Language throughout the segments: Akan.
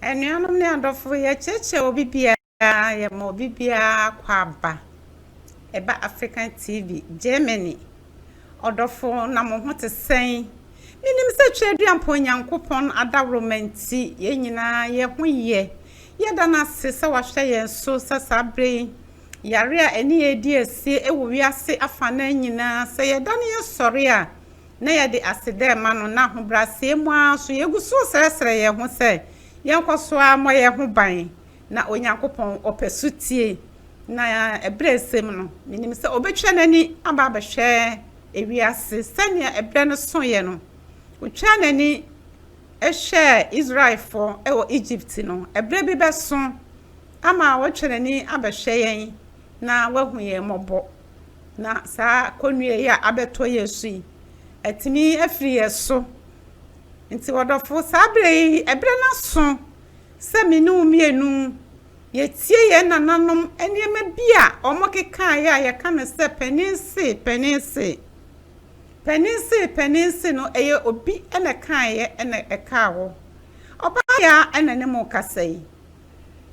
Anuanom ne adɔfo, yɛkyerɛkyerɛ obi biara, yɛma obi biara akwaaba. Ɛba African TV, Germany. Ɔdɔfo, na mo ho te sɛn? Menim sɛ Tweaduampɔn Onyankopɔn adaworoma nti, yɛn nyinaa yɛn ho yɛ. Yɛda no ase sɛ wahwɛ yɛn so sɛ saa berɛ yi, yare a ɛne yɛn redi asie wɔ wiase afanan nyinaa, sɛ yɛdane yɛn sɔre a, na yɛde aseda rema no, na ahobrɛaseɛ mu ara nso yɛgu so resrɛsrɛ yɛn ho sɛ yɛnkɔ so ara mmɔ yɛn ho ban na Onyankopɔn ɔpɛ sotie, na ɛberɛ resɛm no, menim sɛ ɔbɛtwa n'ani aba abɛhwɛ ewiase sɛdeɛ ɛberɛ no soeɛ no. Ɔtwaa n'ani hwɛɛ Israelfoɔ wɔ Egypt no, ɛberɛ bi bɛso ama watwa n'ani abɛhwɛ yɛn na wahu yɛn mmɔbɔ. na saa kɔnnua yi a abɛtɔ yɛn so yi, atumi afiri yɛn so. Nti ɔdɔfo, saa berɛ yi, ɛberɛ no aso sɛ me ne wo mmienu yɛtie yɛn nananom nneɛma bi a wɔkekaeɛ a yɛka no sɛ panin se, panin se. Panin se, panin se no, ɛyɛ obi na ɛkaeɛ na ɛkaa hɔ. Ɔbaa yɛ a na ne mo kasa yi.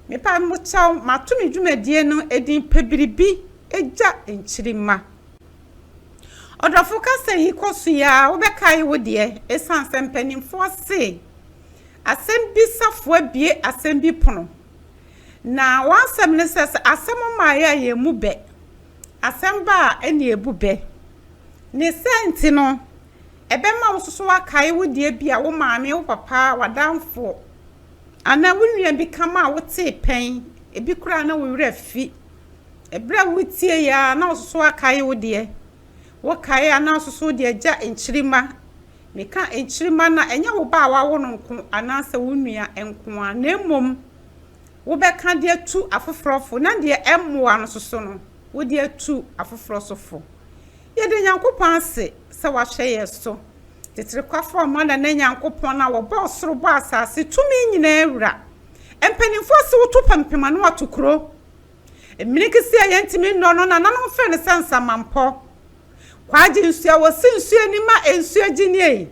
Mepa mo kyɛw, mato me dwumadie no edin Pɛ Biribi Gya Nkyirimma. Ɔdɔfo kasa yi kɔ so yi ara, wobɛkae wo deɛ, ɛsiane sɛ mpanimfoɔ se asɛm bi safoa abue asɛm bi pono. Na w'asɛm ne sɛ, sɛ asɛm mmaeɛ a yɛn mu bɛ, asɛm ba a ɛne ebu bɛ. Ne sɛ nti no, ɛbɛma wo nso so wakae wo deɛ bi a wo maame, wo papa, w'adamfoɔ, Anaa wo nua bi ka ma a wotee pɛn, ebi koraa a na wo werɛ afi. Bere a wutiei ara na wososo akae wo deɛ. Wokae a na wososo de agya nkyirimma. Meka nkyirimma no a, ɛnyɛ wo ba a woawo no nko anaasɛ wo nua nko ara, na mmom wobɛka de atu afoforɔ fo na deɛ ɛmmoa no soso no, wode atu afoforɔ so fo. Yɛda Nyankopɔn ase sɛ wahwɛ yɛn so. Teterekwafo a moada ne Nyankopɔn a ɔbɔɔ ɔsoro bɔɔ asase tumi nyinaa wura. Mpanyimfo ase wotu pampim a na wɔato kuro. Mmiri kesee a yɛntumi nnɔ no nananom frɛ no sɛ nsamampɔ. Kwaagye nsu a wɔsi nsu ani ma nsu agye nie yi.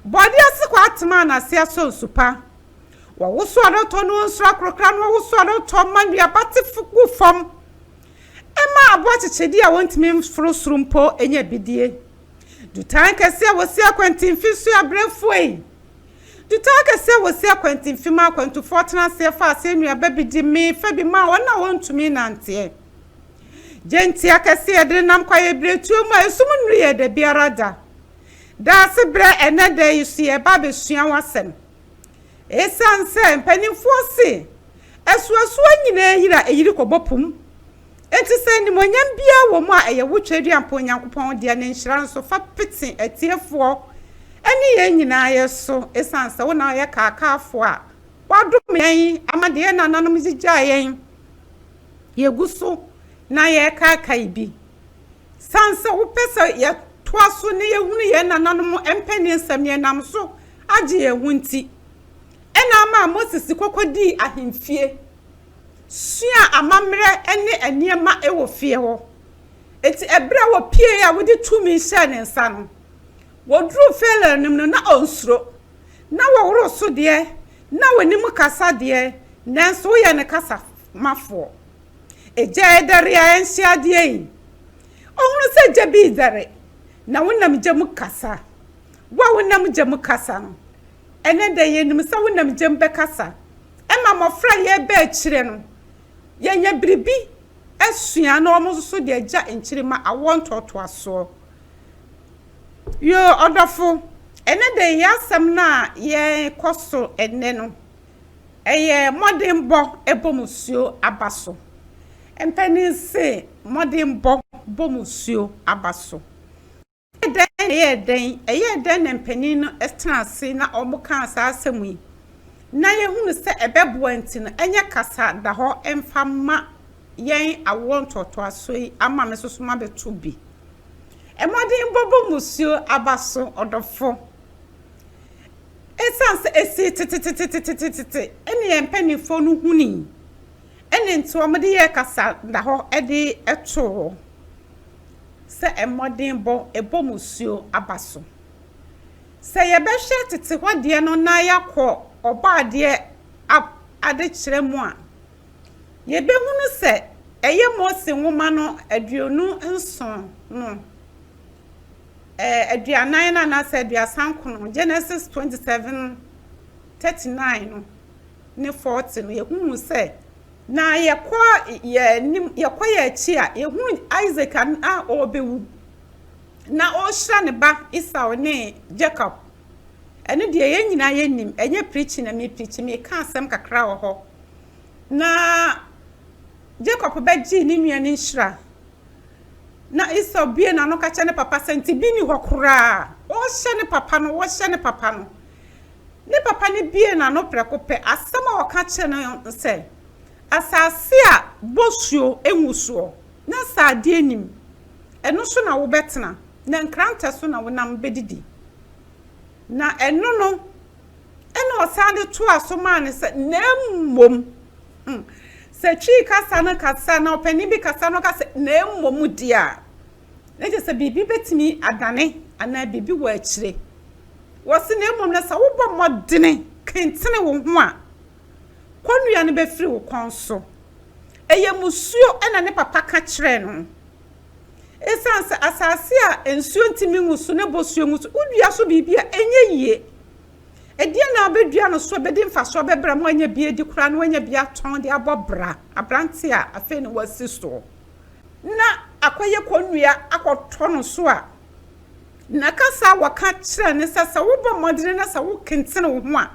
Bɔde ase kɔ atema a n'ase asɔ nsu pa. Wɔwoso adɔtɔ na wɔnsuro akorokra na wɔwoso adɔtɔ ma nnuaba te gu fam. Ɛma aboa kyekyɛdi a wɔntumi mforo soro mpo nya bidie. Dutan kɛseɛ a wɔsi akwantemfi nso yɛ abrɛfuei. Dutan kɛseɛ a wɔsi akwantemfi ma akwantufoɔ tena aseɛ fa aseɛ nnuaba bi di mee fa bi ma wɔn a wɔntumi nnanteɛ. Gyentia kɛseɛ a yɛde nenam kɔ ayɛbiretuo mu a esum nnuru yɛ da biara da. Daasebrɛ ɛnnɛ da yi so yɛreba abɛsua ho asɛm. Esiane sɛ mpanimfoɔ se asuasua nyinaa yiri a ɛyiri kɔbɔ po mu nti, sɛ animuonyam biara wɔ mu a, ɛyɛ wo Tweaduampɔn Nyankopɔn dea, ne nhyira nso fa pete atiefoɔ ne yɛn nyinaa yɛ so. Esiane sɛ wo na woyɛ kaakaafoɔ a woadome yɛn ama deɛ yɛn nananom gyigyaa yɛn, yɛgu so na yɛrekaakae bi. Esiane sɛ wopɛ sɛ yɛtoa so na yɛhunu yɛn nananom mpanin nsɛm, yɛnam so agye yɛn ho nti na ama Moses de kɔkɔ dii ahemfie, sua amammerɛ ne nneɛma wɔ fie hɔ. Enti ɛberɛ a wɔpieeɛ a wode tumi hyɛɛ ne nsa no, wɔduruu Farao anim no, na ɔnsuro. Na wɔworo so deɛ, na wɔnim kasa deɛ, nanso woyɛ ne kasamafoɔ. Egya ɛdɛre a ɛnhyɛ adeɛ yi, ɔhunu sɛ gya bi redɛre, na wonam gya mu kasa. Wo a wonam gya mu kasa no, ɛnnɛ da yi yenim sɛ wonam gya mu bɛkasa. Ɛma mmofra a yɛreba akyire no, yɛnya biribi sua na wɔn nso so de agya nkyirimma, awoɔ ntoatoasoɔ. Yoo, ɔdɔfo, ɛnnɛ da yi yɛn asɛm no a yɛrekɔ so ɛnnɛ no, ɛyɛ mmɔdenbɔ bɔ mu suo aba so. Mpanin se, mmɔdenbɔ bɔ mu suo aba so. Ɛyɛɛ dɛn na ɛyɛɛ dɛn? Ɛyɛɛ dɛn na mpanin no tenaa ase na wɔkaa saa asɛm yi? Ná yɛhunu sɛ ɛbɛboa nti no, ɛnyɛ kasa da hɔ mfa mma yɛn awoɔ ntoatoasoɔ yi ama me nso so mabɛto bi. Mmɔdenbɔ bɔ mmusuo aba so, ɔdɔfo. Ɛsiane sɛ ɛsii tetetetetetete ɛne yɛn mpanimfoɔ no hunii ɛne nti wɔde yɛɛ kasa da hɔ de too hɔ. sɛ mmɔdenbɔ bɔ mmusuo aba so. Sɛ yɛbɛhwɛ tete hɔ deɛ no na yɛakɔ Ɔbɔadeɛ ab adekyerɛ mu a, yɛbɛhunu sɛ ɛyɛ Mose nwoma no aduonu nson no, ɛɛ, aduanan no anaasɛ aduasa nkron, Genesis twenty seven thirty nine no, ne Forte no, yɛhunuu sɛ na yɛkɔ yɛn anim, yɛkɔ yɛn akyi a, yɛhunu Isak a na ɔrebɛwu, na ɔrehyira ne ba Esau ne Jacob. Ɛno deɛ yɛn nyinaa yɛnim, ɛnyɛ preaching na mepreachi, meka asɛm kakra wɔ hɔ. Na Jacob bɛgyee ne nua no nhyira. Na Esau bue n'ano ka kyerɛ ne papa sɛ ntebi nni hɔ koraa. Ɔrehyɛ ne papa no, ɔrehyɛ ne papa no. Ne papa no buee n'ano prɛko pɛ. Asɛm a ɔka kyerɛɛ no ne sɛ, Asase a bosuo ngu soɔ, na nsadeɛ nnim, ɛno so na wobɛtena, na nkrantɛ so na wo nam bɛdidi. Na ɛno no, ɛnna ɔsan de toaa so maa no sɛ, Na mmom, hmm, sɛ Twi kasa no kasa na ɔpanin bi kasa na ɔka sɛ, Na mmom deɛ a, na kyerɛ sɛ biribi bɛtumi adane anaa biribi wɔ akyire. Wɔse na mmom no sɛ wobɔ mmɔdene kentene wo ho a, kɔnnua no bɛfiri wo kɔn so. Ɛyɛ musuo na ne papa ka kyerɛɛ no. Ɛsiane sɛ asase a nsuo ntumi ngu so na bosuo ngu so, wodua so biribi a ɛnyɛ yie. Ɛdeɛ na wobɛdua no so a ɛbɛdi mfasoɔ bɛbrɛ ma wanya bi adi koraa na wanya bi atɔn de abɔ bra, aberante a afei na wasi soɔ. na akɔyɛ kɔnnua akɔtɔ no so a, na kasa a wɔka kyerɛ ne sɛ, sɛ wobɔ mmɔden na sɛ wokentene wo ho a,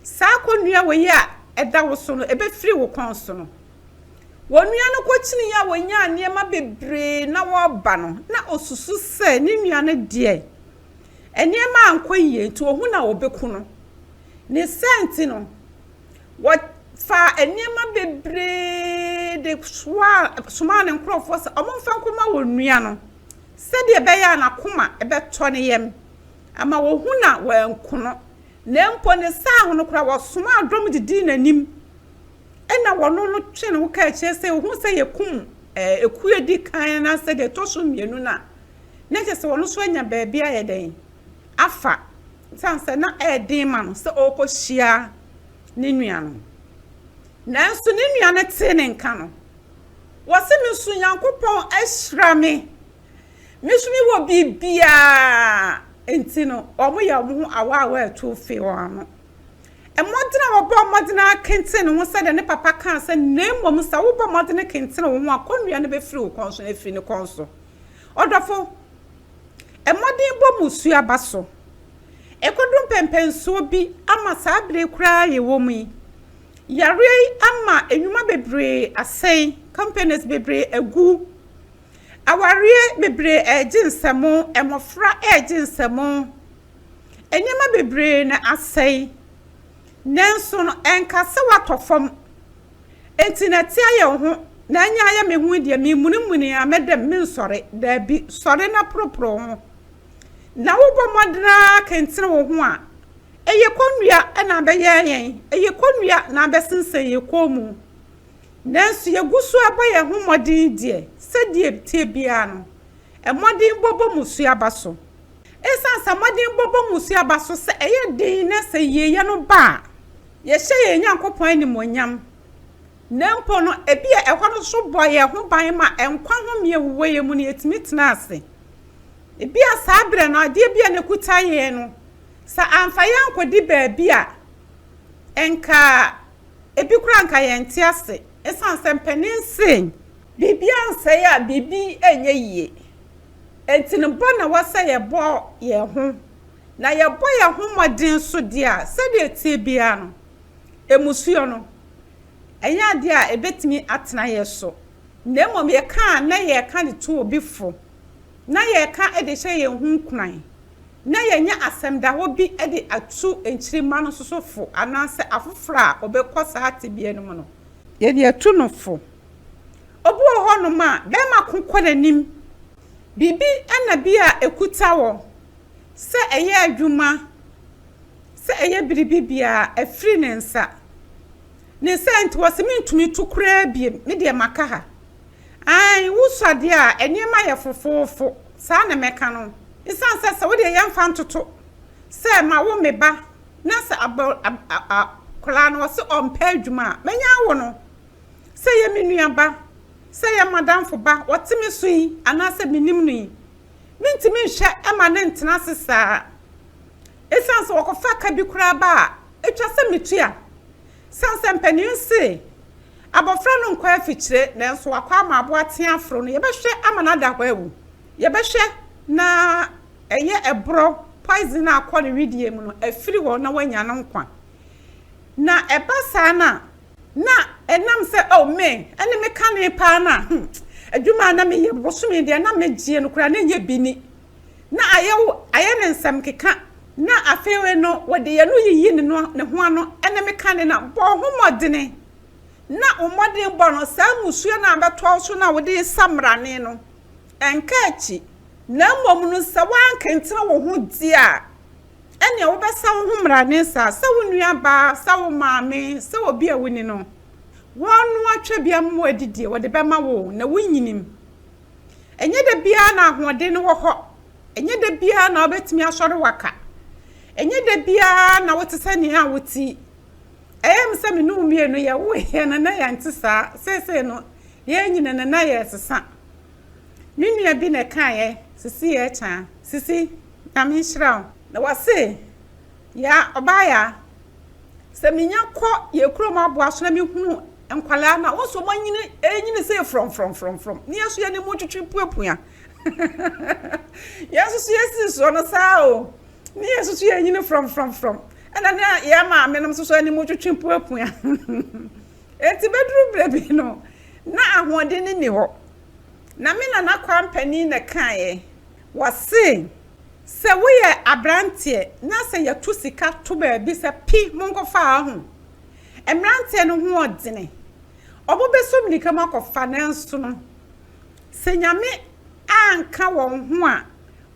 saa kɔnnua wei a ɛda wo so no, ɛbɛfiri wo kɔn so no. Onua no kɔkyineeɛ a ɔnyaa nneɛma bebree na ɔreba no, na ɔsusu sɛ ne nua no deɛ, nneɛma ankɔ yie nti ɔhu na ɔbɛku no. Ne saa nti no, Wɔfaa nneɛma bebree de soaa, somaa ne nkurɔfoɔ sɛ wɔmfa nkɔma wɔn nua no, sɛdeɛ ɛbɛyɛ a n'akoma bɛtɔ ne yam ama wahu na wanku no, na mpo ne saa ho no koraa wɔsomaa dɔm de dii n'anim, ɛnna wɔno no twee ne ho kaa akyire sɛ, Wohu sɛ yɛkum ekuo a ɛdi kan anaasɛ deɛ ɛtɔ so mmienu no a, na kyerɛ sɛ wɔn nso anya baabi ayɛ dɛn? afa esiane sɛ na ɛyɛ den ma no sɛ ɔrekɔhyia ne nua no. Nanso ne nua no tee ne nka no. Wɔse me nso Nyankopɔn ahyira me. Me nso mewɔ biribiara. Nti no, wɔyɛ wɔn ho awaawa atu fee wɔn ano. Mmɔden a wɔbɔ mmɔden ara kenten ne ho sɛdeɛ ne papa kaa sɛ, na mmom sɛ wobɔ mmɔden kentene wo ho a, kɔnnua no bɛfiri wo kɔn so na afiri ne kɔn so. Ɔdɔfo, Mmɔdenbɔ mu su aba so. Ɛkɔdu mpɛnpɛnsoɔ bi ama saa berɛ yi koraa a yɛwɔ mu yi, yareɛ yi ama nnwuma bebree asɛe, companies bebree agu, awareɛ bebree regye nsam, mmɔfra regye nsam, nneɛma bebree na asɛe. Nanso no, ɛnka sɛ woatɔ fam. Enti na ɛte ayɛ wo ho, na anya ayɛ me ho deɛ, meremunimuni ara, mɛdam, merensɔre. Dabi, sɔre na poroporo wo ho. Na wobɔ mmɔden ara kentene wo ho a, ɛyɛ kɔnnua na abɛyɛ yɛn, ɛyɛ kɔnnua na abɛsensɛn yɛn kɔn mu. Nanso yɛgu so bɔ yɛn ho mmɔden deɛ, sɛdeɛ ɛteɛ biara no, mmɔdenbɔ bɔ mmusuaba so. Esiane sɛ mmɔdenbɔ bɔ mmusua ba so sɛ ɛyɛ den na sɛ yieyɛ no ba a, yɛhyɛ yɛn Nyankopɔn animuonyam. Na mpo no, ebia ɛhɔ no nso bɔ yɛn ho ban ma nkwa home a ɛwowɔ yɛn mu no, yetumi tena ase. Ebia saa bere no, adeɛ bi a na ɛkuta yɛn no, sɛ amfa yɛn ankɔdi baabi a, anka ebi koraa anka yɛnte ase esiane sɛ mpanin se, Biribiara nsɛe a biribi nyɛ yiye. Enti no bɔ na wɔ sɛ yɛbɔ yɛn ho, na yɛbɔ yɛn ho mmɔden nso deɛ a, sɛdeɛ ɛteɛ biara no, mmusuo no, ɛnyɛ adeɛ a ɛbɛtumi atena yɛn so, na mmom yɛka a na yɛka de to obi fo, na yɛka de hyɛ yɛn ho nkuran, na yɛanya asɛm da hɔ bi de atu nkyirimma no nso so fo, anaasɛ afoforɔ a wɔbɛkɔ saa tebea no mu no, yɛde atu no fo. Obi wɔ hɔnom a, bɛrima ko kɔ n'anim. Biribi na bi a ɛkuta wɔ, sɛ ɛyɛ adwuma, sɛ ɛyɛ biribi biara, afiri ne nsa. Ne saa nti, wɔse mentumi to koraa biom, me deɛ maka ha. Ae, wo sɔ adeɛ a, nneɛma yɛ fofoofo, saa na mɛka no. Esiane sɛ sɛ wo deɛ yɛmfa ntoto sɛ mawo me ba na sɛ akwadaa no wɔse ɔmpɛ adwuma a, mɛnya awo no. Sɛ ɛyɛ me nuaba, sɛ ɛyɛ m'adamfo ba, ɔte me so yi anaasɛ mennim no yi, mentumi nhwɛ mma no ntena ase saa. Esiane sɛ wɔkɔfa ka bi koraa ba a, etwa sɛ mitua. Esiane sɛ mpanyin no se abofra no nkɔ afikyire nanso wakɔ ama abo ateɛ aforo no, yɛbɛhwɛ ama no ada hɔ awu. Yɛbɛhwɛ na ɛyɛ ɛborɔ, poison a akɔ ne wedeɛ mu no afiri hɔ na wanya ne nkwa. Na ɛba saa no a, Na ɛnam sɛ oh me ɛne me kane paa no a hmm adwuma a na me yɛ bosome deɛ na me gyeɛ no koraa na ɛnyɛ bi ni na ayɛ wo ayɛ no nsɛm keka na afeewe no wɔde yɛ no yiyi ne no ne ho ano ɛne me kane na bɔ ho mmɔdene na wo mmɔden bɔ no saa musuo no a bɛtoa wo so no a wode yɛ samrane no ɛnka akyi na mmom no sɛ woankentene wo ho deɛ a ɛnneɛ wobɛsa wo ho mmara ne nsa sɛ wo nuabaa, sɛ wo maame, sɛ obi a woni no. Wɔnoa twabia mmoa adidie, wɔde bɛma wo, na wonyinim. Ɛnyɛ da biara na ahoɔden no wɔ hɔ. Ɛnyɛ da biara na wobɛtumi asɔre waka. Ɛnyɛ da biara na wote sɛ nea a woti. Ɛyɛ me sɛ me ne wo mmienu yɛwoeɛ no na yɛnte saa. Seesei no, yɛanyini no na yɛresesa. Me nua bi na ɛkaeɛ, Sisi Yɛkyaa. Sisi. Nyame nhyira wo. Na wɔse yaa ɔbaa yaa sɛ menya kɔ yɛ kurom aboa so na me hunu nkwalaa no a wɔn so wɔn anyini ɛnyini sɛ frɔm frɔm frɔm frɔm ne yɛn so yɛ ne mu twitwi pua pua yɛn soso yɛ si soɔ no saa o ne yɛn soso yɛ nyini frɔm frɔm frɔm ɛna ne yɛ maame nom soso ne mu twitwi pua pua eti bɛduru berɛ bi no na ahoɔden ne ni hɔ na me nana kwa mpanin na kaeɛ Wɔse sɛ woyɛ abranteɛ na sɛ yɛto sika to baabi sɛ pi monkɔfa a ho mmranteɛ no ho ɔdene ɔmo bɛsɔ mirika mu akɔfa nanso no sɛ Nyame anka wɔn ho a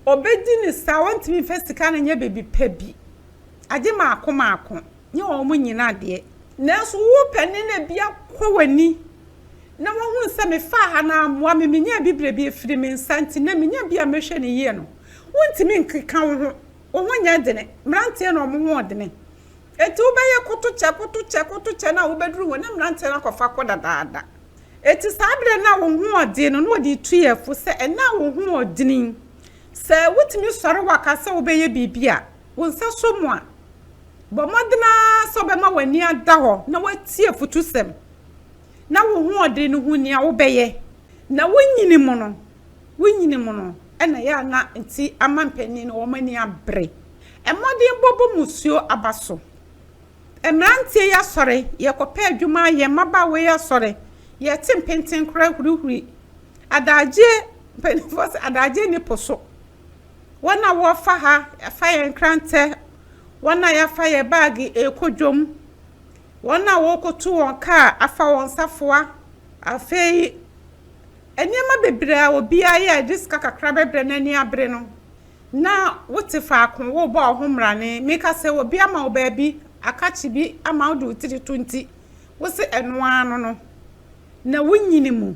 ɔbɛdi no saa ɔntumi mfa sika no nyɛ biribi pa bi agye maako maako nyɛ ɔmo nyina deɛ nanso wopɛ ne na bi akɔ w'ani na wɔhunu sɛ mefaa ha na ammoa me, menya abibire bi afiri me nsa nti, na menya bi a mɛhwɛ no yie no, wontumi nkeka wo ho, wo ho nyɛ dene, mmeranteɛ na wɔn ho ɔdene, enti wobɛyɛ kotokyɛ, kotokyɛ, kotokyɛ na wobɛduru hɔ na mmeranteɛ no akɔfa kɔ dadaada. Enti saa berɛ no a wo ho ɔdene no, na wɔde retu yɛn fo sɛ ɛnnɛ a wo ho ɔdene yi, sɛ wotumi sɔre wɔ ka sɛ wobɛyɛ biribi a wo nsa sɔ mu a, bɔ mmɔdene ara sɛ wobɛma w'ani ada hɔ na woatie afutusɛm. na wo hoɔden no ho nea wobɛyɛ na wonyini mu no, wonyini mu no na ɛyɛ a na nti ama mpanin no wɔn ani abere. Mmɔden bɔ bɔ musuo aba so. Mmeranteɛ yi asɔre, yɛkɔpɛ adwuma ayɛ, mmabaawa yi asɔre, yɛte mpenten koraa hurihuri. Adagyeɛ, mpanimfoɔ sɛ adagyeɛ nni po so. Wɔn a wɔfa ha, yɛfa yɛn nkrantɛ, wɔn a yɛafa yɛn baage rekɔ dwom, Wɔn a wɔrekotu wɔn kaa afa wɔn safoa. Afei nneɛma bebree a obiara yɛ a ɛde sika kakra bɛbrɛ na ani abere no, na wote faako rebɔ wo ho mmrane. Meka sɛ obi ama wo baabi, akakye bi ama wode wo tiri to nti, wose ɛno ara no no, na wonyini mu.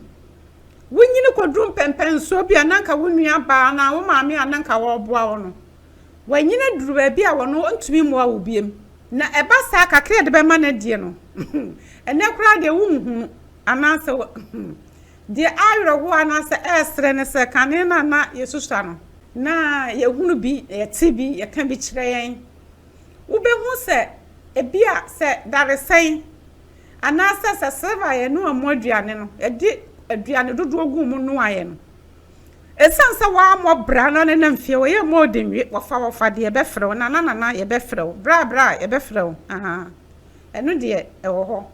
Wonyini kɔduru mpɛmpɛnsoɔ bi a na anka wo nuabaa anaa wo maame a na anka wɔreboa wo no, wanyin aduru baabi a wɔn ntumi mmoa wo biom, na ɛba saa kakra a yɛde bɛma no deɛ no, ɛnɛ koraa deɛ wonhu no, anaasɛ deɛ awerɛhoɔ anaasɛ ɛresrɛ no sɛ kane no a na yɛsusua no, na yɛhunu bi, na yɛte bi, yɛka bi kyerɛ yɛn. Wobɛhu sɛ ebi a sɛ daresɛn anaasɛ sɛ silver a yɛnoa mu aduane no, yɛde aduane dodoɔ gu mu noaeɛ no, Esiane sɛ woammɔ bra na ne nam fie, wɔyɛ mma odi nwi, wɔfa wɔfa de yɛbɛfrɛ wo, nana nana yɛbɛfrɛ wo, bra bra yɛbɛfrɛ wo, ahaa, ɛno deɛ ɛwɔ hɔ.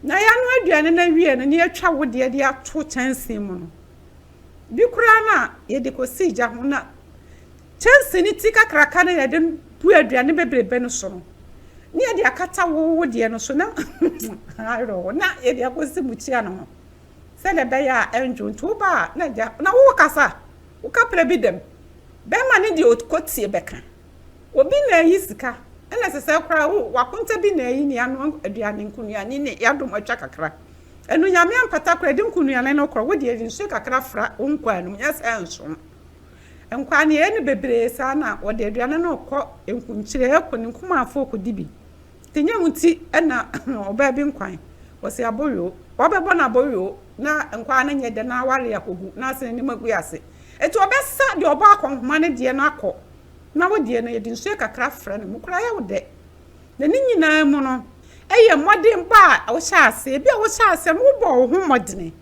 Na yɛanoa aduane no awie no na yɛatwa wo deɛ de ato kyɛnsee mu no, bi koraa no a yɛde kɔsi gya ho na kyɛnsee no ti kakraka no yɛde bu aduane bebrebe no so no na yɛde akata wo wo deɛ no so na ayerɛ hɔ na yɛde akɔsi mukyia no ho. sɛdeɛ ɛbɛyɛ a ɛnndwo nti wo ba a na agya na wo kasa wo ka prɛ bi dɛm bɛɛma no deɛ ɔkɔ tie bɛka obi na ayi sika ɛna sesɛ koraa wo wakonta bi na ayi ne ano aduane nkonuane ne yadom atwa kakra ɛno nyame ampata koraa de nkonuane no korɔ wo deɛ de nsuo kakra fra wo nkwaa nom nyɛ sɛ nsom nkwaa ne yɛyɛ no bebree saa na wɔde aduane no kɔ nkunkyire ɛkɔ ne nkumafoɔ kɔdi bi Nyɛ wo nti na ɔbaa bi nkwan ɔsi aboyoo. Wabɛbɔ no aboyoo na nkwaa no nyɛ dɛ na aware akɔgu na asene ne magui ase. Enti ɔbɛsa deɛ ɔbɔ akɔnhoma no deɛ no akɔ na wo deɛ no yɛde nsuo kakra afra no mu koraa ɛyɛ wo dɛ. Na ne nyinaa mu no ɛyɛ mmɔdenbɔ a wohyɛ aseɛ. Ebia wohyɛ aseɛ no wobɔɔ wo ho mmɔdene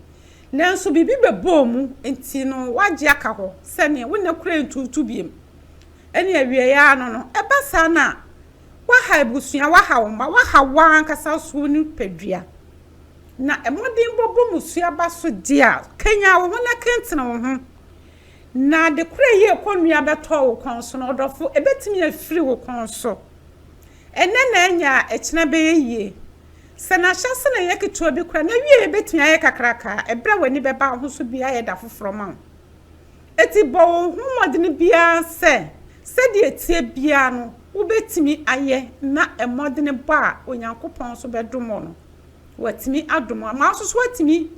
nanso biribi bɛbɔɔ mu nti no woagye aka hɔ sɛdeɛ wo nna koraa ntuutu biom ɛne awieɛ ara no no ɛba saa no a, Woaha abusua, woaha wo mma, woaha w'ankasa nso wo nipadua. Na mmɔden bɔbɔ mu so aba so de a, kanyan wo ho na kentene wo ho. Na ade koro a ɛyɛ kɔnnua bɛtɔ wo kɔn so no, ɔdɔfo, ɛbɛtumi afiri wo kɔn so. Ɛnnɛ na anya a, ɛkyena bɛyɛ yie. Sɛ na ahyɛse na ɛyɛ ketewa bi koraa, n'awieeɛ bɛtumi ayɛ kakraka. Ɛberɛ a w'ani bɛba wo ho so biara ayɛ da foforɔ ma wo. Enti bɔ wo ho mmɔden biara sɛ sɛdeɛ ɛteɛ biara no wobɛtumi ayɛ na mmɔden bɔ a Onyankopɔn nso bɛdom wo no, watumi adom wo ama wo nso so woatumi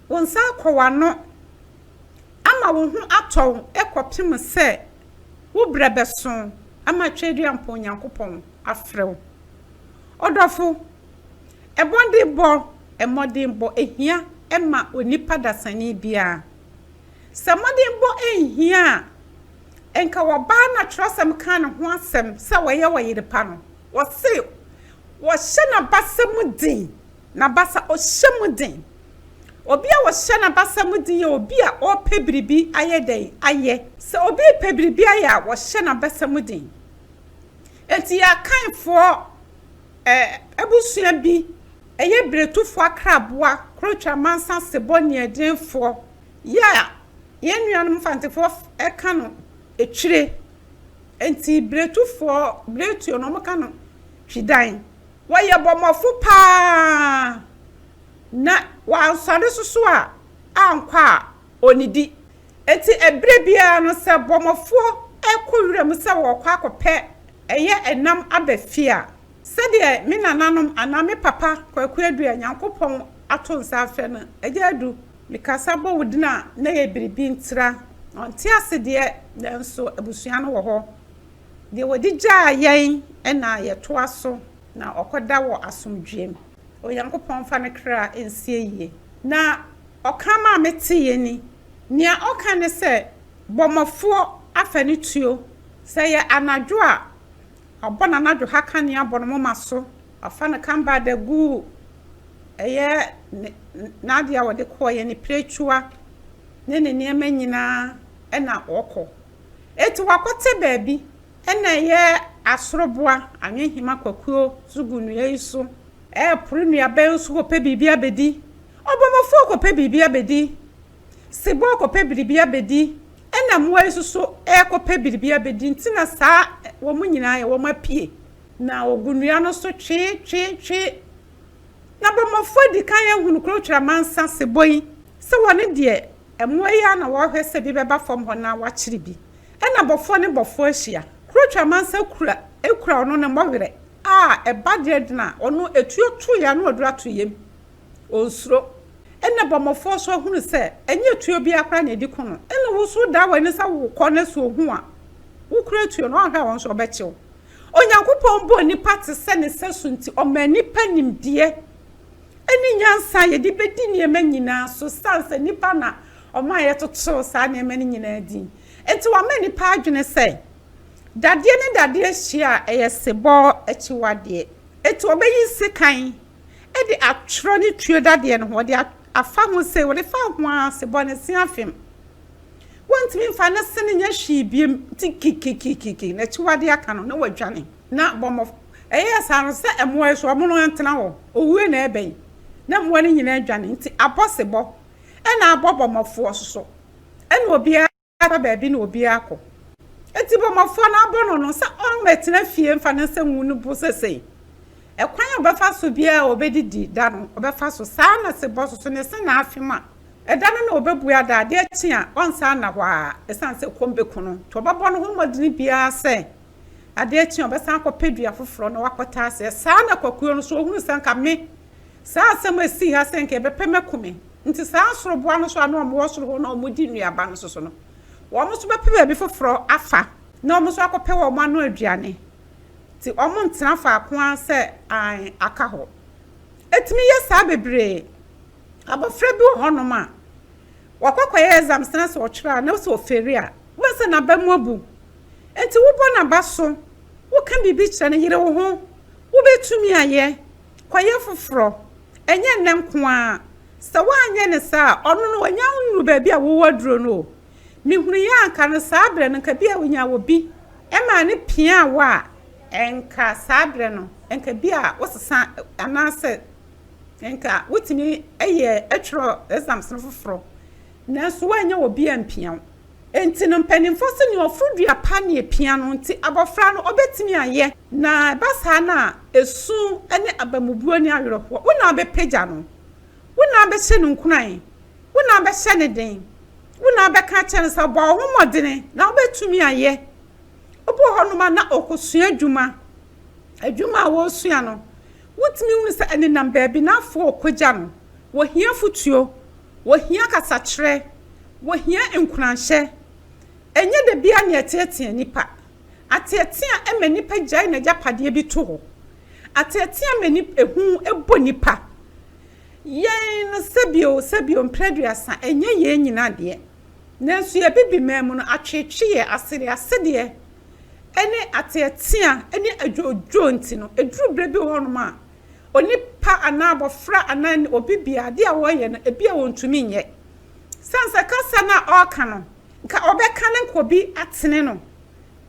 wo nsa akɔ w'ano ama wo ho atɔ wo kɔpem sɛ wo berɛ bɛso ama Tweaduampɔn Onyankopɔn afrɛ wo. Ɔdɔfo, ɛbɔde bɔ. mmɔdenbɔ hia ma onipa dasani biara. Sɛ mmɔdenbɔ anhia a, anka ɔbaa no a Kyerɛwsɛm kaa ne ho asɛm sɛ ɔyɛ ɔyere pa no, wɔse, Wɔhyɛ n'abasa mu den. N'abasa, ɔhyɛ mu den. Obi a ɔhyɛ n'abasa mu den yɛ obi a ɔrepɛ biribi ayɛ dɛn? Ayɛ. Sɛ obi repɛ biribi ayɛ a, ɔhyɛ n'abasa mu den. Enti yɛn Akanfoɔ abusua bi Ɛyɛ biretufoɔ akraboa korotwa mansa sebɔ nniadeɛnfoɔ yɛ a yɛn nuanom Mfantefoɔ ka no etwire. Enti biretufoɔ, biretuo no wɔka no twidan. Wɔyɛ bɔmmɔfo pa ara na wansɔre soso a ankɔ a ɔnnidi. Enti ɛberɛ biara no sɛ bɔmmɔfoɔ rekɔ wuram sɛ wɔrekɔ akɔpɛ ɛyɛ ɛnam aba fie a, Sɛdeɛ me nananom anaa me papa Kwaku Adu a Nyankopɔn ato nsa afrɛ no, Agya Adu, mekasa bɔ wo din a na ɛyɛ biribi ntira, ɔnte ase deɛ, nanso abusua no wɔ hɔ. Deɛ ɔde gyaa yɛn na yɛtoa so na ɔkɔda wɔ asomdwoeɛm. Onyankopɔn mfa ne kra nsi ayie. Na ɔkraman a meteeɛ ni. Nea ɔka ne sɛ, Bɔmmɔfoɔ afa ne tuo. Sɛ ɛyɛ anadwo a, Ɔbɔ n'anadwo ha kanea bɔ ne moma so. Ɔfa ne kamba da gu, ɛyɛ ne, n'adeɛ a ɔde kɔeɛ, ne pirekyua ne ne nneɛma nyinaa, ɛna ɔkɔ. Enti wakɔtɛ baabi, ɛna ɛyɛ asoroboa, anwenhema kwakuo nso gu nnua yi so. Ɛrepore nnuaba yi so kɔpɛ biribi abɛdi. Ɔbɔmmɔfoɔ kɔpɛ biribi abɛdi. Se bɔɔkɔpɛ biribi abedi, ɛna mmoa yi nso so rekɔpɛ biribi abedi, nti na saa wɔn nyinaa yɛ wɔn apue. Na wɔgu nnua no so twee, twee, twee. Na bɔmmɔfoɔ adi kan ahunu Kurokyerɛ amansa sebɔ yi, sɛ wɔne deɛ mmoa yi ara na wɔrehwɛ sɛ bi bɛba fam hɔ na wɔakyere bi. Ɛna bɔfoɔ ne bɔfoɔ ahyia. Kurokyerɛ amansa kura, ekura ɔno ne mmɔwerɛ a ɛba deɛ de na ɔno etuo toeɛ a na ɔduru atoeɛ mu. onsuro. Ɛnna bɔmmɔfoɔ so ahunu sɛ ɛnyɛ tuo biara koraa na ɛdi ko no, ɛnna wo nso wodan w'ani sɛ worekɔ no so ɔhu a, wokura tuo no, woanhwɛ a wo nso ɔbɛkye wo. Onyankopɔn bɔɔ nnipa te sɛ ne sɛso nti, ɔmaa nnipa nimdeɛ ne nyansa a yɛde bɛdi nneɛma nyinaa so, ɛsiane sɛ nnipa na ɔmaa yɛtotoroo saa nneɛma no nyinaa din. Enti wama nnipa adwene sɛ dadeɛ ne dadeɛ hyia a, ɛyɛ sebɔ akyiwadeɛ. Enti wɔbɛyi nsekan. de atwerɛ ne tuo dadeɛ no ho, wɔde afa ho sei, wɔde fa ho ara se bɔ ne se afem. Wɔntumi mfa ne se no nyɛ hwee biom, nti kikikikiki, n'akyiwadeɛ aka no na wadwane. Na bɔmmɔ, ɛyɛɛ saa no sɛ mmoa yi so wɔn no ntena hɔ, owuo na ɛrebɛn, na mmoa no nyinaa dwane, nti abɔ se bɔ, ɛna abɔ bɔmmɔfoɔ so so, ɛna obiara. aka baabi na obiara akɔ. Enti bɔmmɔfoɔ no abɔ no no sɛ ɔmmɛtena fie mfa ne nsa ngu ne bo sesei. Ɛkwan a ɔbɛfa so biara a ɔbɛdidi da no, ɔbɛfa so. Saa ara na sɛ bɔsoso ne se na afe mu a, ɛda no na ɔbɛbua da. Adeɛ kye a, ɔnsan nna hɔ ara ɛsiane sɛ ɛkɔm bɛku no. Nti ɔbɛbɔ ne ho mmɔdene biara sɛ adeɛ kye a, ɔbɛsan akɔpɛ dua foforɔ na wakɔtena aseɛ. Saa ara na kwakuo no nso, ɔhunu sɛ anka me Saa asɛm a esii ha sɛ anka yɛbɛpɛ me ko me nti, saa nsoroboa no nso a na wɔwɔ soro hɔ na wɔdi nnuaba no soso no, wɔn nso bɛpɛ baabi foforɔ afa na wɔn nso akɔpɛ wɔn ano aduane. Enti wɔntena faako ara sɛ hann aka hɔ. Ɛtumi yɛ saa bebree. Abɔfra bi wɔ hɔnom a, wakɔ akɔyɛ exams na sɛ ɔtwerɛ a na sɛ ɔfeeli a, wobɛhu sɛ n'aba mu abu. Enti wobɔ n'aba so, woka biribi kyerɛ no, yere wo ho, wobɛtumi ayɛ, Kɔyɛ foforɔ. Ɛnyɛ nnɛ nko ara. Sɛ woanyɛ no saa a, ɔno no ɔnnya nnuru baabi a wowɔ aduro no o. Mehunuiɛ a anka no saa berɛ no, anka bi a ɔnyaa obi maa no piaa wo a, anka saa berɛ no, anka bi a wosesa anaasɛ anka wotumi yɛ twerɛ exams no foforɔ. Nanso woannya obi ampia wo. Enti no mpanimfoɔ se nea ɔforo dua pa na epia no nti abɔfra no ɔbɛtumi ayɛ. Na ɛba saa no a, esu ne abamubuo ne awerɛhoɔ, wo na wobɛpagya no, wo na wobɛhyɛ no nkuran, wo na wobɛhyɛ no den, wo na wobɛka akyerɛ no sɛ bɔ wo ho mmɔdene na wobɛtumi ayɛ. Obi wɔ hɔnom a na ɔrekɔsua adwuma, adwuma a ɔresua no wotumi hunu sɛ ɛnenam baabi na afoo ɔkɔgya no, wɔhia afotuo. Wɔhia kasakyerɛ. Wɔhia nkuranhyɛ. Ɛnyɛ da biara na yɛteatea nnipa. Ateatea ma nnipa gyae n'agyapadeɛ bi to hɔ. Ateatea ma nip, ehu bɔ nnipa. Yɛn no, sɛbio sɛbio, mprɛduasa, ɛnyɛ yɛn nyinaa deɛ. Nanso yɛn Abibiman mu no, atweetweeɛ, asereasereɛ, ne ateatea, ne adwoodwoo nti no, ɛduru berɛ bi wɔ hɔnom a, onipa anaa abɔfra anaa obi bia adeɛ a ɔreyɛ no ebi a ɔntumi nyɛ. Sane sɛ kasa no a ɔreka no nka ɔbɛka no nka obi atene no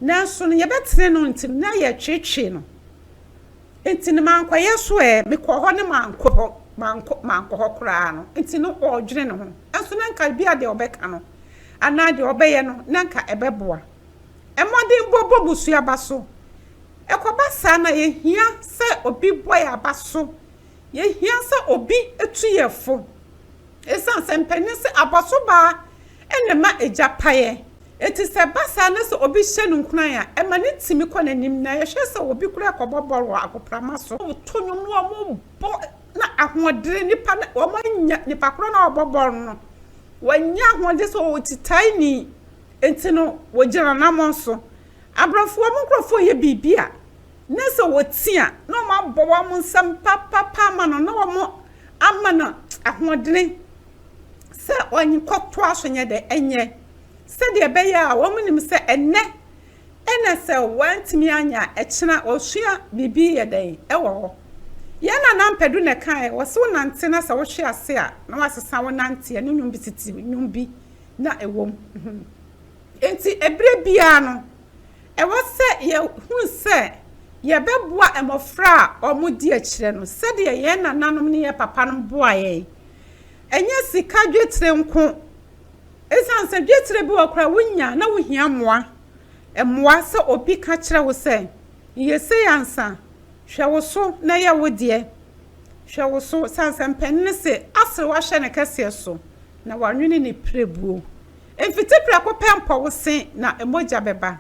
nanso no yɛbɛtene no nti no na yɛretweetwee no nti no mankɔyɛ so ɛ mekɔɔ hɔ ne mankɔ hɔ mankɔ mankɔ hɔ koraa no nti no ɔredwene ne ho nso na nka ebi a deɛ ɔbɛka no anaa deɛ ɔbɛyɛ no na nka ɛbɛboa. mmɔdenbɔ bɔ busua aba so. Ɛkɔba saa na yɛhia sɛ obi bɔ yɛn aba so. Yɛhia sɛ obi tu yɛn fo. Ɛsiane sɛ mpanin se abɔsobaa na ɛma agya paeɛ nti, sɛ ɛba saa na sɛ obi hyɛ no nkuran a, ɛma no tumi kɔ n'anim na yɛhwɛ sɛ obi koraa kɔbɔ bɔɔl wɔ agoprama so. Wɔto nnwom na wɔbɔ na ahoɔdere nipa no wɔanya, nipa korɔ no a ɔrebɔ bɔɔl no, wanya ahoɔden sɛ ɔwɔ titae ni. Enti no, wɔgye n'anammɔn so. Abrɔfoɔ mo nkurɔfoɔ yɛ biribi a, na sɛ wɔti a, na wɔn abɔ wɔn nsam papapa ama no, na wɔn ama no ahoɔdene sɛ ɔnkɔtoa so nyɛ dɛ nyɛ, sɛdeɛ ɛbɛyɛ a wɔn nim sɛ ɛnnɛ na sɛ wɔantumi anyɛ a, ɛkyena wɔsua biribi yɛ dɛn wɔ hɔ. Yɛn Nana Ampadu na ɛkaeɛ, wɔse wo nante na sɛ wohwe ase a, na wasesa wo nanteɛ, ne nnwom bi titiriw, nnwom bi na ɛwom. Enti, bere biara no, ɛwɔ sɛ yehu sɛ yɛbɛboa mmofra a wɔredi akyire no sɛdeɛ yɛn nananom ne yɛn papanom boaa yɛn. Ɛnyɛ sika dwetire nko, ɛsiane sɛ dwetire bi wɔ koraa wonya na wohia mmoa. Ɛmmoa sɛ obi ka kyerɛ wo sɛ, Yɛ sei ansa, hwɛ wo so na yɛ wo deɛ. Hwɛ wo so, ɛsiane sɛ mpanin se, Aserew ahyɛ ne kɛseɛ so. Na wɔanwene ne pirebuo. Mfiti prɛko pɛ mpɔ wo se, na mogya bɛba.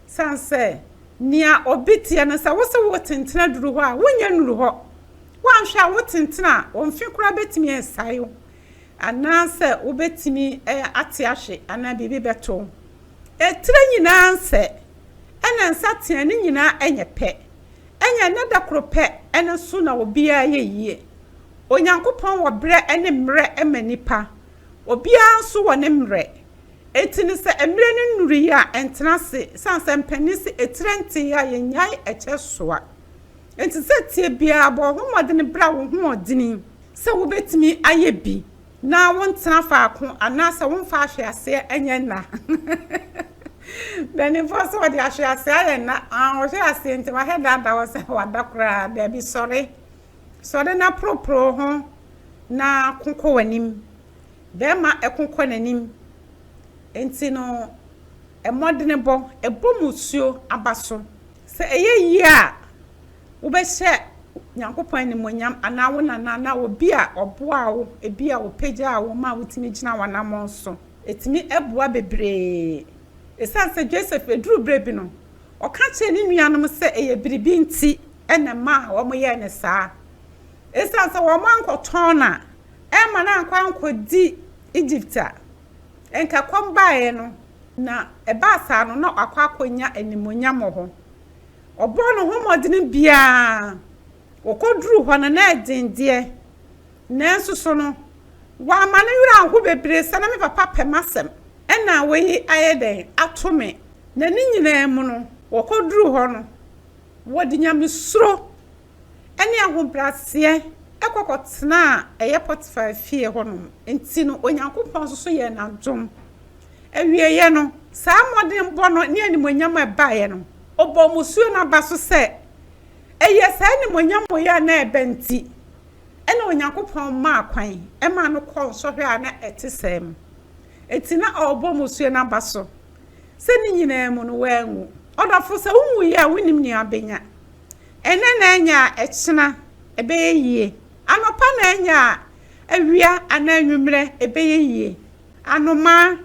Sane sɛ, nea obi teɛ no, sɛ wose wotentena duru hɔ a, wonnya nnuru hɔ. Woanhwɛ a, wotentena a, wo mfe koraa bɛtumi asae wo, anaasɛ wobɛtumi ate ahwe, anaa biribi bɛto wo. Etire nyinaa nsɛ, ɛna nsateaa no nyinaa nyɛ pɛ. Ɛnyɛ ɛnnɛ da koro pɛ no so na obiara yɛ yie. Onyankopɔn wɔ berɛ ne mmerɛ ma nnipa. Obiara nso wɔ ne mmerɛ. Enti no sɛ mmerɛ no nnuruiɛ a, ɛntena ase, ɛsiane sɛ mpanin se etire nteeɛ a, yɛnnyae ɛkyɛ soa. Enti sɛ tie biara, bɔ wo ho mmɔdene bra wo hoɔdene sɛ wobɛtumi ayɛ bi na wontena faako anaasɛ womfa ahweaseɛ nyɛ nna. Mpanimfoɔ se wɔde ahweaseɛ ayɛ nna, wɔhwe aseɛ nti wahɛ daadaa wo sɛ wada koraa, daabi sɔre. Sɔre na poroporo wo ho na ko kɔ w'anim. Bɛrima ko kɔ n'anim. Enti no, mmɔdenebɔ, bɔ mmusuo aba so. Sɛ ɛyɛ yie a, wobɛhyɛ Nyankopɔn animuonyam anaa wo nana anaa obi a ɔboaa wo, ebi a ɔpagyaa wo maa wotumi gyinaa w'anammɔn so. Ɛtumi boa bebree. Ɛsiane sɛ Joseph, ɛduru berɛ bi no, ɔka kyerɛɛ ne nuanom sɛ ɛyɛ biribi nti na ɛmaa wɔyɛɛ no saa. Esiane sɛ wɔankɔtɔn no a ɛmma no ankɔ ankɔdi Egypt a anka ɛkɔm baeɛ no, na ɛbaa saa no, na wakɔ akɔnya animuonyam wɔ hɔ. Ɔbɔɔ ne ho mmɔdene biara, ɔkɔduruu hɔ no, na ɛden deɛ, nanso so no, wamma ne werɛ anho bebree sɛ, na me papa pɛ m'asɛm, ɛna wei ayɛ dɛn, ato me. Na ne nyinaa mu no, wɔkɔduruu hɔ no, Wɔde nyamesuro ne ahobrɛaseɛ kɔ kɔtenaa ɛyɛ Potifar fie hɔnom, enti no Onyankopɔn nso so yɛɛ no adom. Awieeɛ no, saa mmɔdenbɔ no ne animuonyam a ɛbaeɛ no, ɔbɔɔ mmusuo no aba so sɛ, Ɛyɛ saa animuonyam wei a na ɛba nti na Onyankopɔn maa kwan maa no kɔɔ nsɔhwɛ a na ɛte sɛɛ mu. Enti na ɔrebɔ mmusuo no aba so. sɛ ne nyinaa mu no wanwu. Ɔdɔfo, sɛ wunwui a wunnim nea abenya. Ɛnnɛ na anya a ɛkyena ɛbɛyɛ yie. Anɔpa na anya a awia anaa anwummerɛ ɛbɛyɛ yie. Anomaa,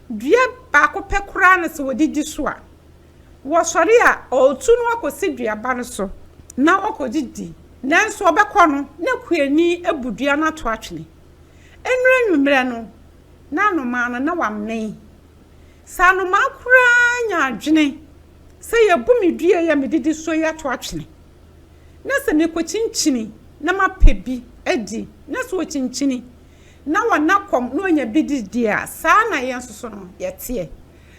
dua baako pɛ koraa na sɛ wɔdidi so a, wɔsɔre a wɔretu no akɔsi duaba no so na wɔkɔdidi. Nanso wɔbɛkɔ no na kuani abu dua no ato atwene. Ɛnnuru anwummerɛ no na anomaa no na wamee Sɛ anomaa koraa nya adwene sɛ yɛabu me dua yi a medidi so yi ato atwene, na sɛ mekokyinkyini na mapɛ bi adi, na sɛ okyinkyini na ɔna kɔm na onya bi di deɛ a, saa ara na yɛn nso so no, yɛteɛ.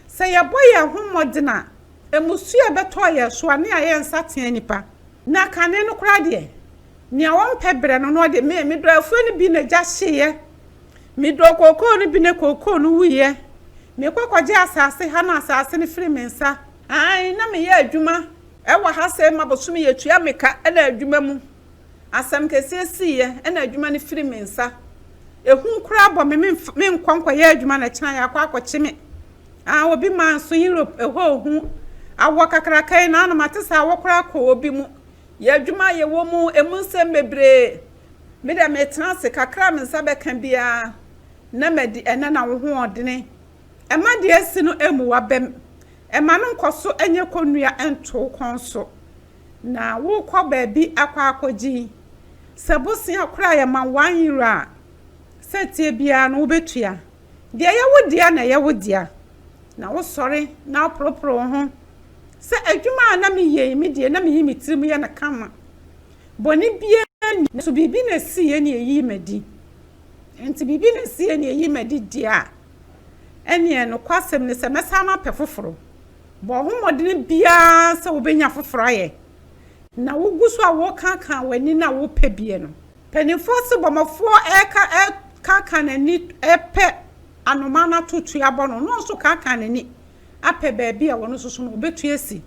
Sɛ yɛbɔ yɛn ho mmɔden a, mmusuo a ɛbɛtɔ yɛn so a, ne ayɛ nsateaa nnipa. Na kane no koraa deɛ, nea ɔmpɛ brɛ no na ɔde me, me dɔ afuo no bi na gya hyeeɛ. Me dɔɔ kookoo no bi na kookoo no wuiɛ. Me kɔ kɔ gye asaase ha na asaase no firi me nsa. Aane na me yɛ adwuma wɔ ha sei ma bosome yɛ tua me ka na adwuma mu asɛm kɛseɛ siiɛ na adwuma no firi me nsa. Ɛhu koraa bɔ me me nkɔ nkɔ yɛ adwuma na kyena yɛ akɔ akɔ kye me. Aane obi maa nso Europe ɛhɔ ɔhu awɔ kakraka yi na ano mate sɛ awɔ koraa kɔ obi mu. Yɛ adwuma a yɛ wɔ mu ɛmu nsɛm bebree Me deɛ metena ase, kakra a me nsa bɛka biara na madi, ɛnɛ na wohoɔdene ɛma deɛ asi no ɛmu wabam, ɛma no nkɔso nyɛ kɔnnua nto wo kɔn so, na wokɔ baabi akɔ akɔgyin, sɛ bosea koraa yɛ ma one euro a, sɛ ɛteɛ biara no wobɛtua, deɛ ɛyɛ wo dea na ɛyɛ wo dea, na wosɔre na woporoporo wo ho sɛ adwuma a na meyɛ yi me deɛ na meyi me tirim yɛ no kama. Bɔne biara nni mu. Nanso biribi na ɛsiiɛ na ɛyii m'adi. Enti biribi na ɛsiiɛ na ɛyii m'adi deɛ a, ɛnneɛ nokwasɛm ne sɛ mɛsan mapɛ foforɔ. Bɔ wo ho mmɔden biara sɛ wobɛnya foforɔ ayɛ, na wogu so a worekaakaa w'ani no a worepɛ biɛ no. Mpanimfoɔ se bɔmmɔfoɔ rekaakaa n'ani repɛ anomaa no atotoe abɔ no, na ɔno nso rekaakaa n'ani apɛ baabi a ɔno nso so no ɔbɛtu asi.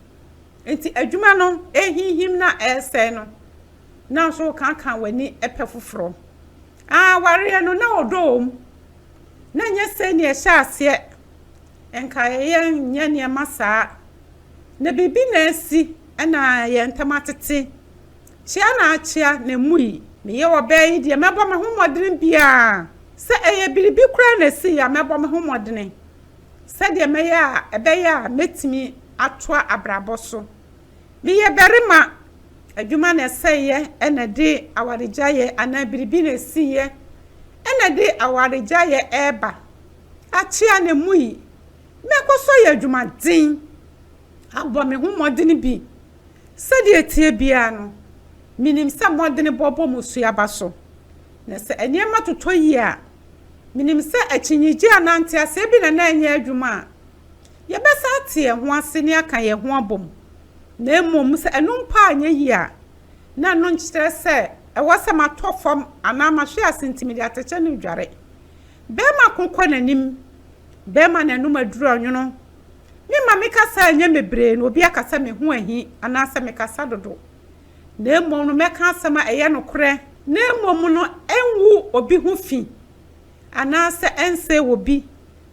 Enti adwuma no rehinhim na ɛresɛe no, na nso wokaaka w'ani pɛ foforɔ. Awareɛ no, na ɔdɔ wɔ mu, na ɛnyɛ sei na ɛhyɛ aseɛ. Nka yɛnyɛ nneɛma saa. Na biribi na asi na yɛn ntam atete. Kyea na akyea na ɛmui. Meyɛ ɔbaa yi deɛ, mɛbɔ me ho mmɔdene biara. Sɛ ɛyɛ biribi koraa na ɛsii a, mɛbɔ me ho mmɔdene. sɛdeɛ mɛyɛ a ɛbɛyɛ a mɛtumi atoa abrabɔ so. Meyɛ barima, adwuma na ɛsɛeɛ ɛna ɛde awaregyaeɛ anaa biribi na ɛsiiɛ ɛna ɛde awaregyaeɛ ɛreba. Akyea na ɛmu yi, mɛkɔ so ayɛ adwumaden abɔ me ho mmɔdene bi. Sɛdeɛ ɛteɛ biara no, menim sɛ mmɔdenebɔ bɔ mmusuaba so. Na sɛ nneɛma totɔ yie a, Menim sɛ akyinnyegye anaa nteaseɛ bi na na ɛnyɛ adwuma a yɛbɛsan ate yɛn ho ase ne aka yɛn ho abom, na mmom sɛ ɛno mpo anyɛ yie a, na ɛno nkyerɛ sɛ ɛwɔ sɛ matɔ fam anaa mahwe ase nti mede atɛkyɛ no redware. Bɛrima ko kɔ n'anim, bɛrima na ɛnom aduru ɔnwono. Me ma me kasa a ɛnyɛ mebree na obi aka sɛ me ho ahi anaasɛ mekasa dodo. na mmom no mɛka asɛm a ɛyɛ nokorɛ, na mmom no ɛngu obi ho fi, anaasɛ ɛnsɛe obi,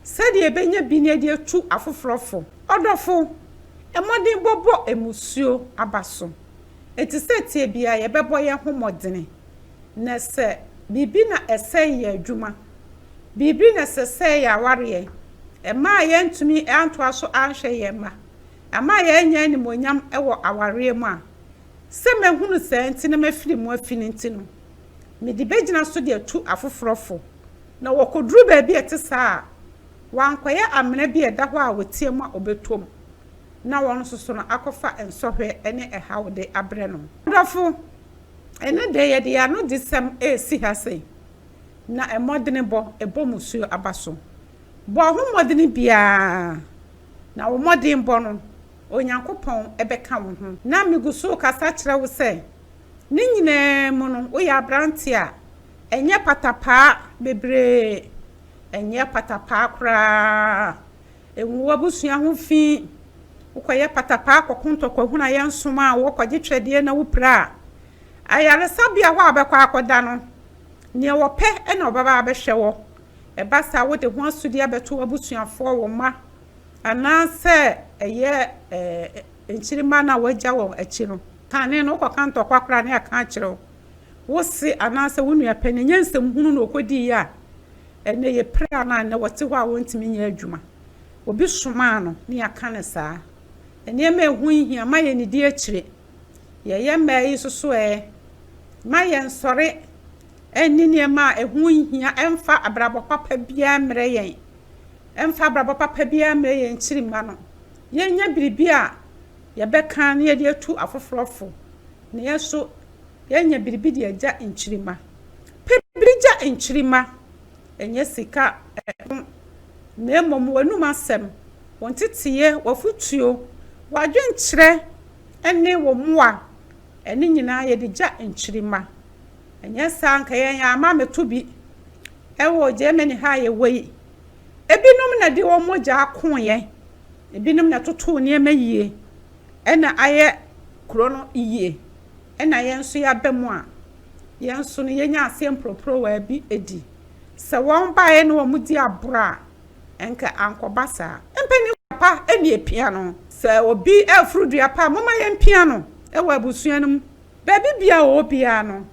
sɛdeɛ ɛbɛnya bi ne de atu afoforɔ fo. Ɔdɔfo, mmɔdenbɔ bɔ mmusuo aba so. Enti sɛdeɛ biara yɛbɛbɔ yɛn ho mmɔdene, na sɛ biribi na ɛsɛe yɛn adwuma, biribi na sɛ ɛsɛe yɛn awareɛ, ɛmaa yɛantumi antoa so anhwɛ yɛn mma, Ɛma yɛnya animuonyam wɔ awareɛ mu a, sɛ mahunu saa nti na mafiri mu afi no nti no, mede bɛgyina so de atu afoforɔ fo. Na wɔkɔduru baabi a ɛte saa a, wɔankɔyɛ amena bi a ɛda hɔ a wɔtia mu a ɔbɛtɔ mu na ɔno nso so no akɔfa nsɔhwɛ ne ɛhaw de abrɛ no. M'adɔfo, ɛnnɛ deɛ yɛde yɛn anodesɛm resi ha sei, na mmɔdenebɔ bɔ mmusuo aba so. Bɔ wo ho mmɔden biara, na wo mmɔdenbɔ no, Onyankopɔn bɛka wo ho. Ná migu so rekasa kyerɛ wo sɛ, ne nyinaa mu no, woyɛ aberante a ɛnyɛ patapaa bebree, ɛnyɛ patapaa koraa, engu w'abusua ho fi. Wokɔyɛ patapaa kɔko ntɔkwahunu a yɛnsom a, wɔkɔgye twɛdeɛ na wopira. Ayaresabea hɔ a wobɛkɔ akɔda no, nea wɔpɛ na wɔbɛba abɛhwɛ wo. Ɛba saa a, wode ho asodi abɛto w'abusuafoɔ, wo mma, anaasɛ ɛyɛ nkyirimma no a woagya wɔn akyi no kane no, wokɔka ntɔkwa koraa ne ɛka akyerɛ wo wo se anaasɛ wo nua panin. Ɛnyɛ nsɛm hunu na ɔkɔdiiɛ a ɛnnɛ yɛpira no a ɛnnɛ ɔte hɔ a ɔntumi nyɛ adwuma. Obi somaa no ne yɛaka no saa. Nneɛma a ɛho nhia, mma yɛnnidi akyire. Yɛyɛ mmaa yi nso so ɛ, mma yɛnsɔre Ɛnni nneɛma a ɛho nhia mfa abrabɔ papa biara mmrɛ yɛn. Ɛmfa abrabɔ papa biara mmrɛ yɛn nkyirimma no. Yɛnyɛ biribi a yɛbɛka na yɛde atu afoforɔ fo, nanso yɛnyɛ biribi de agya nkyirimma. Pɛ biribi gya nkyirimma, ɛnyɛ sika ho, na mmom w'anom asɛm, wo nteteeɛ, w'afotuo, w'adwenkyerɛ ne wo mmoa. Ɛno nyinaa yɛde gya nkyirimma. Ɛnyɛ saa a anka yɛn ama meto bi wɔ Germany ha a yɛwɔ yi. Ebinom na de wɔn mogya ako yɛn. Ebinom na ɛtoto nneɛma yie ɛna ayɛ kuro no yie. Ɛna yɛn nso yɛaba mu a, yɛn nso no yɛnya aseɛ mporoporowa bi di. Sɛ wɔn baeɛ na wɔn di aborɔ a, ɛnka ankɔba saa. Mpanin pa ɛne ɛpia no. Sɛ obi ɛforo dua pa a, momma yɛn mpia no ɛwɔ abusua no mu. Baabi biara a ɔwɔ biara no,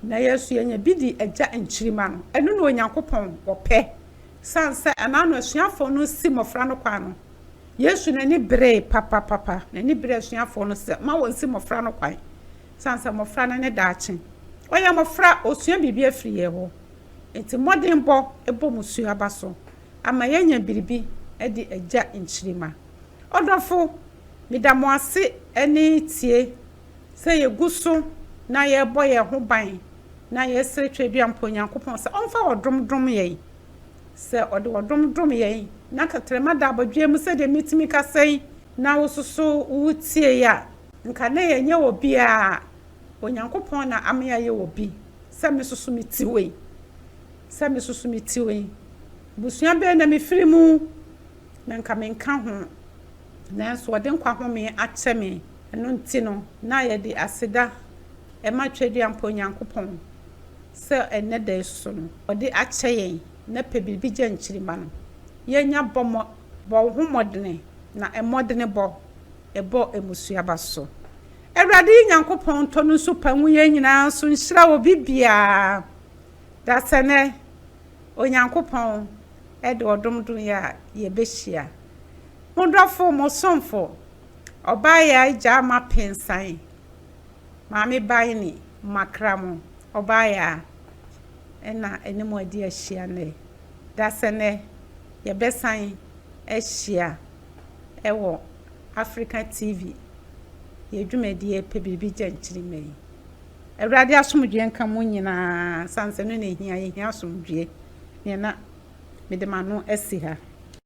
na yɛn nso yɛnya bi di Agya nkyirimma no. Ɛno na Onyankopɔn ɔpɛ. Esiane sɛ ɛno ara na asuafoɔ no si mmɔfra no kwan no, Yesu n'ani beree papapapa. N'ani beree asuafoɔ no sɛ mma wɔnsi mmɔfra no kwan, esiane sɛ mmɔfra no ne daakye. Ɔyɛ mmɔfra, ɔresua biribi afiri yɛn hɔ. Enti mmɔdenbɔ bɔ mo su aba so ama yɛanya biribi adi Agya nkyirimma. Ɔdɔfo, meda mo ase ne tie. Sɛ yegu so na yɛbɔ yɛn ho ban na yɛsrɛ Tweaduampɔ Nyankopɔn sɛ ɔmfa ɔdom dom yɛn, sɛ ɔde ɔdom dom yɛn, na tɛtrɛma da abodwoeɛ mu sɛdeɛ mɛtumi kasa yi, na wososo wo tiei a, nka na yɛnyɛ obiara, Onyankopɔn na ama yɛayɛ obi, sɛ mesoso me ti wei, sɛ mesoso me ti wei, abusua bɛn na mefiri mu, na nka menka ho. Nanso wɔde nkwa home akyɛ me. Ɛno nti no, na yɛde aseda ma Tweaduampɔn Nyankopɔn sɛ ɛnnɛ da yi so no, ɔde akyɛ yɛn. Na pɛ biribi gya nkyirimma no. Yɛnya bɔ mmɔ, bɔ wo ho mmɔdene, na mmɔdene bɔ, bɔ mmusuaba so. Awurade Nyankopɔn ntɔ no nsu pa ngu yɛn nyinaa so nhyira obi biara. Da sɛ nnɛ, Onyankopɔn de ɔdom dom yɛn a, yɛbɛhyia. Mo dɔfo, mo somfo, Ɔbaayaa Gyaa ma pensan, Maame bae ni, Makra mo, Ɔbaayaa ɛna ɛne mo adi ahyia nnɛ, Dasɛ nɛ yɛbɛsan ahyia ɛwɔ Africa TV yɛ dwumadie Pɛ biribi gya nkyirimma yi. Awurade asomdwoeɛ nka mo nyinaa, ɛsiane sɛ ɛno na ɛhia, yɛhia asomdwoeɛ, neɛ na mede m'ano asi ha.